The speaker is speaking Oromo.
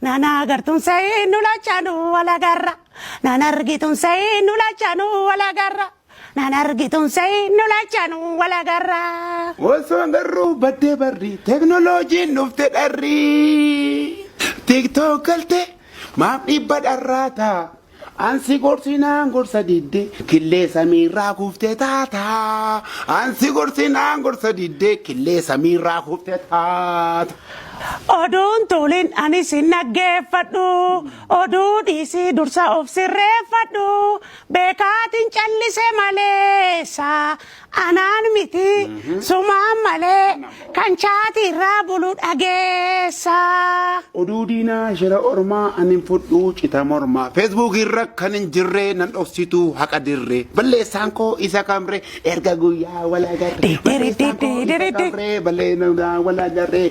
Nana agartuun sa'ii nu lachaanu wal agarra. Nana argituun sa'ii nu lachaanu wal agarra. Nana argituun sa'ii nu lachaanu wal agarra. Osoo garruu baddee barri teknoloojiin dhufte dharri. Tiktook galte maaf dhibba dharraata. An si gorsinaan gorsa didde killee samiirraa kuftee taataa. An si gorsinaan gorsa didde killee samiirraa kuftee taata. Oduun tuulin anis hin dhaggeeffadhu. Oduu dhiisii dursa of sirreeffadhu. Beekaatiin callise maleessa. Anaan miti sumaan malee kan chaati irraa bulu dhageessaa. Oduu diinaa shira ormaa an hin fudhuu cita mormaa Facebook irra kan hin jirree nan dhoksituu haqa dirree balleessaan koo isa kamree erga guyyaa wal agarree balleessaan koo isa kamree balleessaan wal agarree